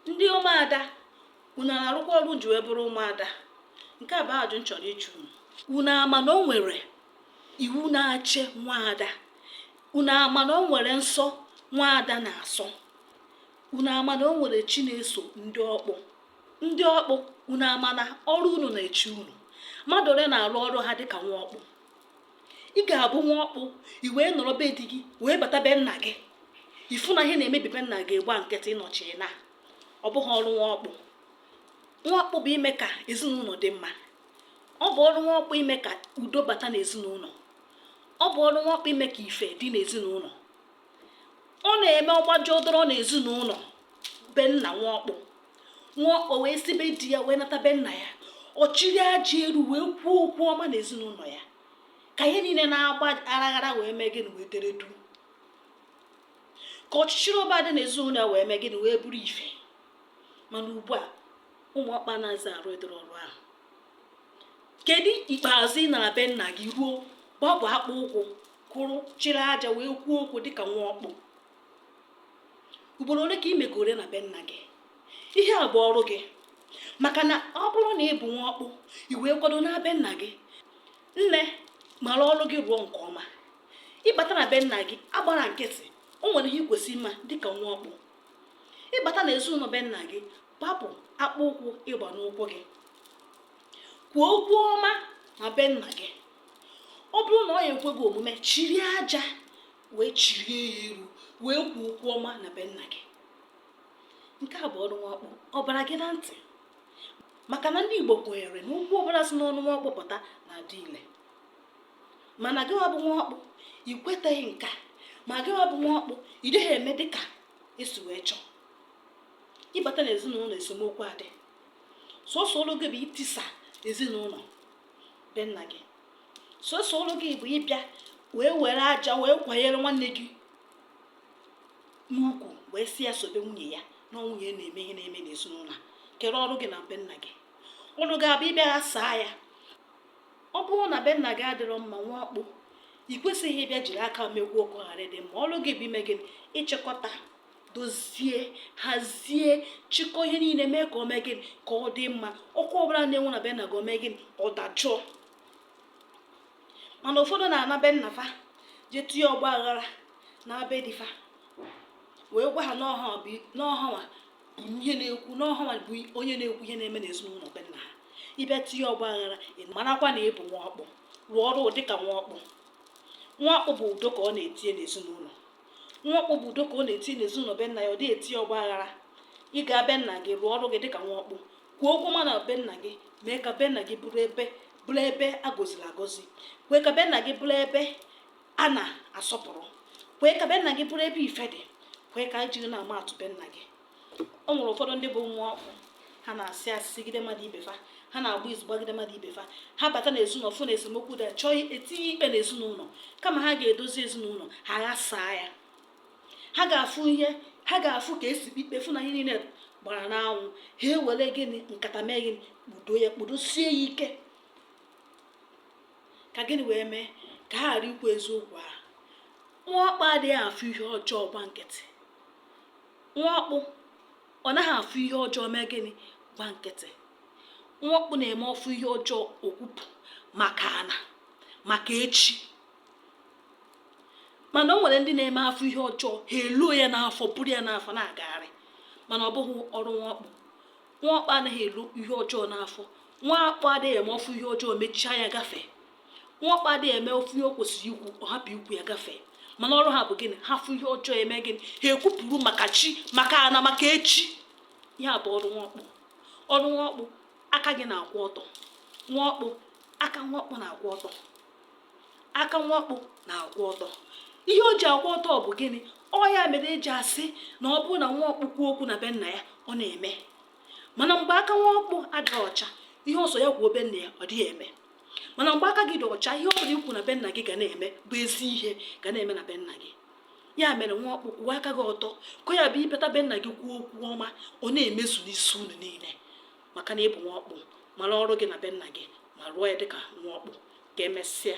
ndị ụmụada unu na-arụkwa ọrụ unu ji wee bụrụ ụmụada nke a bụ ajụjụ m chọrọ ịjụ unu unu ama na o nwere iwu na-achị nwaada unu ama na o nwere nsọ nwaada na-asọ unu ama na o nwere chi na-eso ndị ọkpụ ndị ọkpụ unu ama na ọrụ unu na-eche unu mmadụ ole na-arụ ọrụ ha dịka nwa ọkpụ ị ga-abụ nwa ọkpụ i wee nọrọ be di gị wee bata be nna gị ị fụ na ihe na-emebi be nna gị gba nkịtị ị na-eche na ọ bụghị ọrụ nwa ọkpụ nwa ọkpụ bụ ime ka ezinụlọ dị mma ọ bụ ọrụ nwa ọkpụ ime ka udo bata n'ezinụlọ ọ bụ ọrụ nwa ọkpụ ime ka ife dị n'ezinụlọ ọ na-eme ọ gbajuo doro na ezinụlọ be nna nwa ọkpụ nwa ọkpụ wee si be di ya wee nata be nna ya ọ chịrị aja elu wee kwuo okwu ọma na ezinụlọ ya ka ihe niile na-agba aghara aghara wee mee gịnị wee dere duu ka ọchịchịrị ọbụla dị n'ezinụlọ ya wee mee gịnị wee bụrụ ife mana ugbu a ụmụ ọkpụ anazị arụ ụdịrị ọrụ ahụ kedu ikpeazụ ị nara be nna gị ruo gbapụ akpụ ụkwụ kwụrụ chịrị aja wee kwuo okwu dịka nwa ọkpụ ugboro ole ka ị megoro na be nna gị ihe a bụ ọrụ gị maka na ọ bụrụ na ị bụ nwa ọkpụ i wee kwado na be nna gị nne mara ọrụ gị rụọ nke ọma ị bata na be nna gị agbala nkịtị o nwere ihe i kwesị ịma dịka nwa ọkpụ ị bata na ezinụlọ be nna gị gbapụ akpụ ụkwụ ị gba n'ụkwụ gị kwuo okwu ọma na be nna gị ọ bụrụ na ọ ya-ekwe gị omume chịrị aja wee chịrịe ya elu wee kwuo okwu ọma na be nna gị nke a bụ ọrụ nwa ọkpụ ọ bara gị na ntị maka na ndị Igbo kwenyere na okwu ọbụla si n'ọnụ nwa ọkpụ pụta na-adị ile mana gịwa bụ nwa ọkpụ ị kwetaghị nke a ma gịwa bụ nwa ọkpụ ị dịghị eme dịka e si wee chọọ ị bata na ezinụlọ esemokwu adị sọsọ ọrụ gị bụ itisa ezinụlọ be nna gị sọsọ ọrụ gị bụ ịbịa wee were aja wee kwanyere nwanne gị n'ukwu wee sị ya sobe nwunye ya na nwunye ya na-eme ihe na-eme n'ezinụlọ kedụ ọrụ gị na be nna gị ọrụ gị abụ ịbịa saa ya ọ bụrụ na be nna gị adịrọ mma nwa ọkpụ ị kwesịghị ịbịa jiri aka mekwuo ka ọ ghara ịdị mma ọrụ gị bụ ime gịnị ịchịkọta dozie hazie chịkọ ihe niile mee ka ọ mee gịnị ka ọ dị mma ọkụ ọbụla na-enwu na be nna gị ọ mee gịnị ọ dajụọ mana ụfọdụ na-ana be nna fa jee tinye ọgba aghara na be di fa wee gwa ha na ọ hanwa bụ ihe na-ekwu na ọ hanwa bụ onye na-ekwu ihe na-eme n'ezinụlọ be nna ha ịbịa tinye ọgba aghara marakwa na ị bụ nwa ọkpụ rụọ ọrụ dịka nwa ọkpụ nwa ọkpụ bụ udo ka ọ na-etinye n'ezinụlọ nwa ọkpụ bụ udo ka ọ na-eti n'ezinụlọ be nna ya ọ dịghị eti ọgba aghara ị ga be nna gị rụọ ọrụ gị dịka nwa ọkpụ kwuo okwu ọma na be nna gị mee ka be nna gị bụrụ ebe bụrụ ebe a gọziri agọzi kwee ka be nna gị bụrụ ebe a na-asọpụrụ kwee ka be nna gị bụrụ ebe ife dị kwee ka e jiri na-ama atụ be nna gị o nwere ụfọdụ ndị bụ nwa ọkpụ ha na-asị asị sịgide mmadụ ibe fa ha na-agba izu gbagide mmadụ ibe fa ha bata na ezinụlọ fụ na esemokwu da chọọ itinye ikpe na ezinụlọ kama ha ga-edozi ezinụlọ ha ghasaa ya ha ga-afụ ihe ha ga-afụ ka e si ikpe fụ na ihe niile gbara n'anwụ ha ewere gịnị nkata mee gịnị kpudo ya kpudosie ya ike ka gịnị wee mee ka ha ghara ikwu eziokwu ahụ nwa ọkpụ adịghị afụ ihe ọjọọ gba nkịtị nwa ọkpụ ọ naghị afụ ihe ọjọọ mee gịnị gba nkịtị nwa ọkpụ na-eme ọ fụ ihe ọjọọ o kwupụ maka ana maka echi mana o nwere ndị na-eme ha fụ ihe ọjọọ ha eluo ya n'afọ buru ya n'afọ na-agagharị mana ọ bụghị ọrụ nwa ọkpụ nwa ọkpụ anaghị elu ihe ọjọọ n'afọ nwa ọkpụ adịghị eme ọ fụ ihe ọjọọ mechie anya gafee nwa ọkpụ adịghị eme ọ fụ ihe o kwesịrị ikwu ọ hapụ ikwu ya gafee mana ọrụ ha bụ gịnị ha fụ ihe ọjọọ eme gịnị ha ekwupụrụ maka chi maka ana maka echi ihe a bụ ọrụ nwa ọkpụ ọrụ nwa ọkpụ aka gị na-akwụ ọtọ nwa ọkpụ aka nwa ọkpụ na-akwụ ọtọ aka nwa ọkpụ na-akwụ ọtọ ihe o ji akwụ ọtọ bụ gịnị ọ ya mere e ji asị na ọ bụrụ na nwa ọkpụ kwuo okwu na be nna ya ọ na-eme mana mgbe aka nwa ọkpụ adịghị ọcha ihe ọ sọ ya kwuo be nna ya ọ dịghị eme mana mgbe aka gị dị ọcha ihe ọ bụla i kwu na be nna gị ga na-eme bụ ezi ihe ga na-eme na be nna gị ya mere nwa ọkpụ kwụọ aka gị ọtọ ka ya bụ ị pụta be nna gị kwuo okwu ọma ọ na-emezu n'isi unu niile maka na ịbụ nwa ọkpụ mara ọrụ gị na be nna gị ma rụọ ya dịka nwa ọkpụ ka emesịa